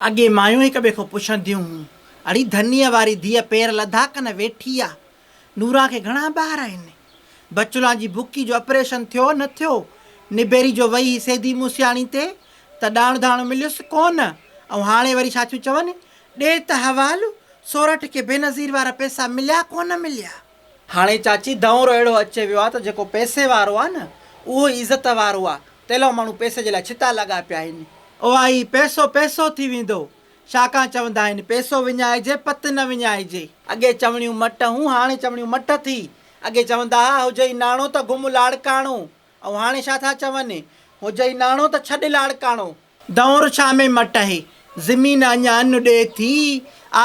اڳي مايون هڪ ٻئي کان پڇنديون هيون، اڙي ڌنيء واري ڌيء پير لڌا ڪن ويٺي آ، نوران کي گهڻا ٻار آهن، بچولان جي بڪي جو اپريشن ٿيو نه ٿيو، نبيري جو وئي هي سيدي موسياڻي تي ته ڏاڻو ڌاڻو مليس ڪونه، ۽ هاڻي وري ڇا ٿيون چون، ڏي ته حوالو، سورٺ کي بينظير وارا پئسا مليا ڪونه مليا. هاڻي چاچي دؤرو اهڙو اچي ويو آ ته جيڪو پئسي وارو آ نه اهو ئي عزت وارو آ، تيلئو ماڻهو پئسي جي لاء ڇتا لڳا پيا آهن. اها ئي پئسو پئسو ٿي ويندو. ڇاڪان چوندا آهن پئسو وڃائجي پت نه وڃائجي. اڳي چوڻيون مٽ هون هاڻي چوڻيون مٺ ٿي. اڳي چوندا ها هجئي ناڻو ته گم لاڙڪاڻو. او هاڻي ڇا ٿا چون. هو جئي ناڻو ته ڇڏ لاڙڪاڻو. دؤر ڇا ۾ مٽ اهي. زمين اڃا ان ڏي ٿي.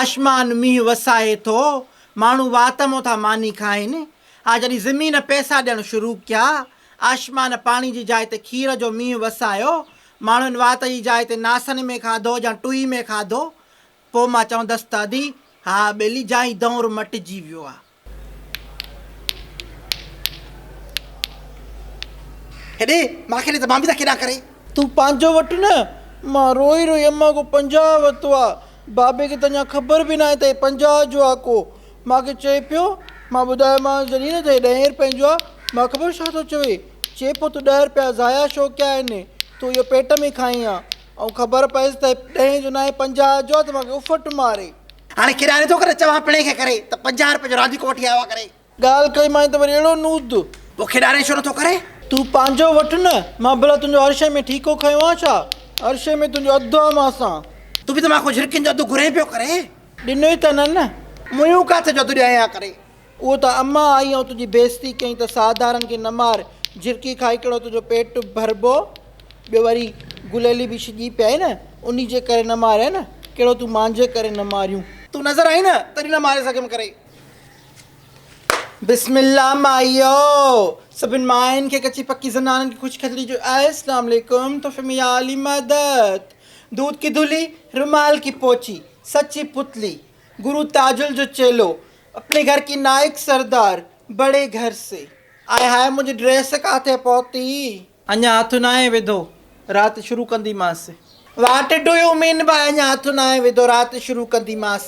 آشمان مينهن وسائي ٿو. ماڻهو وات مون ٿا ماني کائين. ها جڏهن زمين پئسا ڏيڻ شروع ڪيا. آشمان پاڻي جي جاء تي کير جو مينهن وسايو. ماڻهن وات جي جاء تي ناسن ۾ کاڌو يا ٽوئي ۾ کاڌو. پوء مان چوندس ته ادي ها ٻيلي جئي دؤر مٽجي ويو آهي. هيڏي مان کي ڏي ته مان به ته کيڏان ڪري. تون پنهنجو وٺ نه. مان روئي روئي امان کان پنجاهه ورتو آ. بابي کي ته اڃا خبر به ناهي ته هي پنجاهه جو آ ڪو. مان کي چئي پيو. مان ٻڌايومانس جڏهن نه ته هي ڏهين رپين جو آ. مان خبر ڇا ٿو چوي. چئي پيو تون ڏهه رپيا ضايع ڇو ڪيا آهن. تون اهو پيٽ ۾ کائين ها. ائون خبر پيس ته ڏهين جو ناهي پنجاهه جو آ ته مانکي اڦٽ ماري. هاڻي ڪيڏانهن ٿو ڪري چوان پڻهين کي ڪري ته پنجاهه روپين جو رانديڪو وٺي آيو آ ڪري. ڳالهه ڪئي مانء ته وري اهڙو نوزد. پوء کيڏارين ڇو نٿو ڪري. تون پنهنجو وٺ نه. مان ڀلا تنهنجو هر شيء ۾ ٺيڪو کنيو آ ڇا؟ هر شيء ۾ تنهنجو اڌ آ مان سان. تون به ته مان کان جهرڪين جو اڌ گهرين پيو ڪرين. ڏنوئي ته نه نه. مون يون ڪاٿي جو اڌ ڏيائين آ ڪري. اهو ته اما آئي ۽ تنهنجي بيعزتي ڪيائين ته ساهدارن کي نه مار، جهرڪي کاء هڪڙو تنهنجو پيٽ ڀربو، ٻيو وري گليلي به شڄي پيائي نه، انهي جي ڪري نه ماريائين نه، ڪهڙو تون مانجهي ڪري نه ماريون. تون نظر آئين نه تڏهن نه ماري سگهيم ڪري. بسم الله مائيو! سڀني ماين کي ڪچي پڪي زنانن کي خوش خطري جو آهي اسلام عليڪم تحفي ۾ يا علي مدد دود ڪي دھلي رومال ڪي پوچي سچي پتلي گرو تاجل جو چيلو اپني گهر ڪي نائڪ سردار بڙي گهر سي. آئي هاء منهنجي ڊريس ڪاٿي پهتي. اڃا هٿ ناهي وڌو رات شروع ڪنديمانس. واٽ ڊو يو مين باء اڃا هٿ ناهي وڌو رات شروع ڪنديمانس.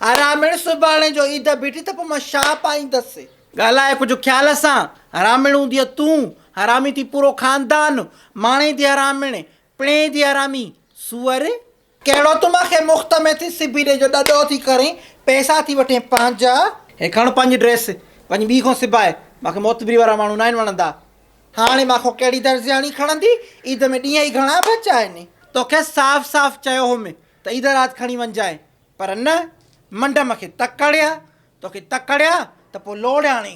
حراميڻ سڀاڻي جو عيد بيٺي ته پوء مان ڇا پائيندس. ڳالهاء ڪجهه خيال سان حراميڻون ڌيء تون حرامي ٿي پورو خاندان ماڻي ٿي حراميڻ پڻي ٿي حرامي سوئر. ڪهڙو تون مان کي مفت ۾ ٿي سبي ڏي جو ڏڏو ٿي ڪرين پئسا ٿي وٺين پنهنجا. هي کڻ پنهنجي ڊريس پنهنجي ٻي کان سباء مان کي معتبري وارا ماڻهو ناهن وڻندا. هاڻي مان کان ڪهڙي درزياڻي کڻندي عيد ۾ ڏينهن ئي گهڻا بچا آهن. توکي صاف صاف چيو هوم ته عيد رات کڻي وڃجانء پر نه منڊم کي تڪڙيا توکي تڪڙيا ته پوء لوڙياڻي.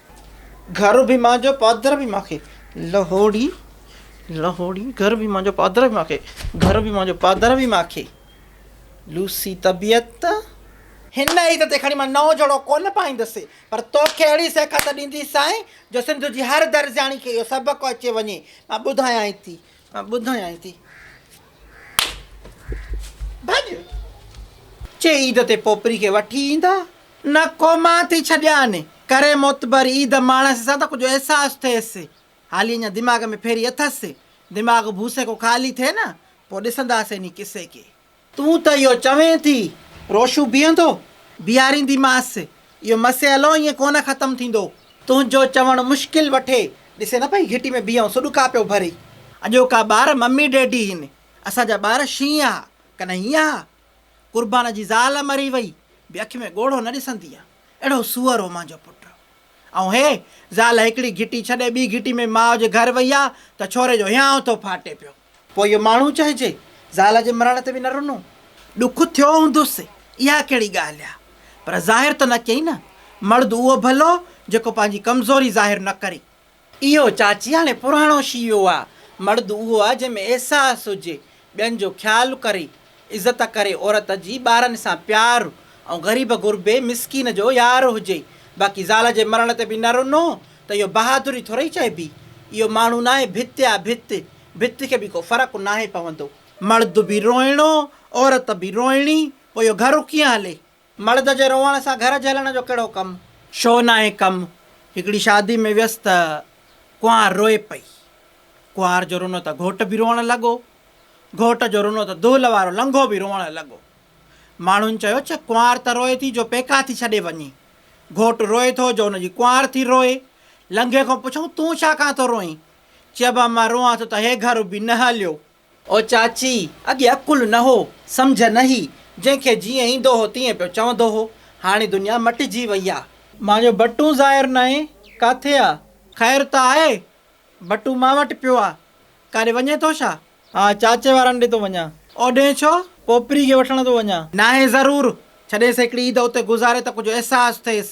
گهر به مانجهو پادر به مانکي لهوڙي لهوڙي گهر به مانجهو پادر به مانکي گهر به مانجهو پادر به مانکي لوسي طبيعت. هن عيد تي کڻي مان نئون جوڙو ڪونه پائيندس پر توکي اهڙي سيکت ڏينديسانء جو سنڌ جي هر درزياڻي کي اهو سبق اچي وڃي مان ٻڌايانء ٿي مان ٻڌايانء ٿي. ڀڄ! چي عيد تي پوپري کي وٺي ايندا. نه ڪو مان ٿي ڇڏيان. ڪري معتبر عيد ماڻس سان ته ڪجهه احساس ٿئيس. حالي اڃا دماغ ۾ ڦيري اٿس. دماغ ڀوسيڪو خالي ٿئي نه پوء ڏسنداسين انهي قصي کي. تون ته اهو چوين ٿي، روشو بيهندو؟ بيهارينديمانس. اهو مسئلو ائين ڪونه ختم ٿيندو. تنهنجو چوڻ مشڪل وٺي. ڏسين نه پئي گهٽي ۾ بيهئون سو ڏکا پيو ڀري. اڄوڪا ٻار ممي ڊيڊي هين. اسان جا ٻار شينهن ها، ڪنه هينئن ها. قربان جي زال مري وئي به اک ۾ ڳوڙهو نه ڏسندي ها. اهڙو سوئر هو مانجو پٽ. ائون هي زال هڪڙي گهٽي ڇڏي ٻي گهٽي ۾ ماء جي گهر وئي ها ته ڇوري جو هيانء ٿو ڦاٽي پيو. پوء اهو ماڻهو چئجي، زال جي مرڻ تي به نه رنو. ڏک ٿيو هوندس، اها ڪهڙي ڳالهه آ؟ پر ظاهر ته نه ڪيئي نه. مرد اهو ڀلو، جيڪو پنهنجي ڪمزوري ظاهر نه ڪري. اهو چاچي هاڻي پراڻو شيوو آ. مرد اهو آ، جنهن ۾ احساس هجي، ٻين جو خيال ڪري، عزت ڪري عورت جي ٻارن سان پيار ۽ غريب غربي مسڪين جو يار هجي باقي زال جي مرڻ تي به نه رنو ته اهو بهادري ٿورئي چئبي اهو ماڻهو ناهي ڀت آ ڀت ڀت کي به ڪو فرق ناهي پوندو. مرد به روئڻو عورت به روئڻي پوء اهو گهر ڪيئن هلي مڙد جي روئڻ سان گهر جهلڻ جو ڪهڙو ڪم؟ ڇو ناهي ڪم؟ هڪڙي شادي ۾ ويس ته ڪنوار روئي پئي. ڪنوار جو رونو ته گهوٽ به روئڻ لڳو. گهوٽ جو رونو ته دهل وارو لنگهو به روئڻ لڳو. ماڻهن چيو ڇه ڪنوار ته روئي ٿي جو پيڪا ٿي ڇڏي وڃي. گهوٽ روئي ٿو جو ان جي ڪنوار ٿي روئي. لنگهي کان پڇئون تون ڇا ڪان ٿو روئين؟ چئبو مان روئان ٿو ته هي گهر اڀي نه هليو. او چاچي، اڳي عقل نه هو، سمجهه نه هئي، جنهن کي جيئن ايندو هو تيئن پيو چوندو هو. هاڻي دنيا مٽجي وئي آ. مانجهو بٽون ظاهر ناهي، ڪاٿي آ؟ خير ته آهي؟ بٽون مان وٽ پيو آ. ڪاڏي وڃين ٿو ڇا؟ ها، چاچي وارن ڏي ٿو وڃان. اوڏهين ڇو؟ پوپري کي وٺڻ ٿو وڃان. ناهي ضرور، ڇڏيس هڪڙي عيد اتي گذاري ته ڪجهه احساس ٿئيس.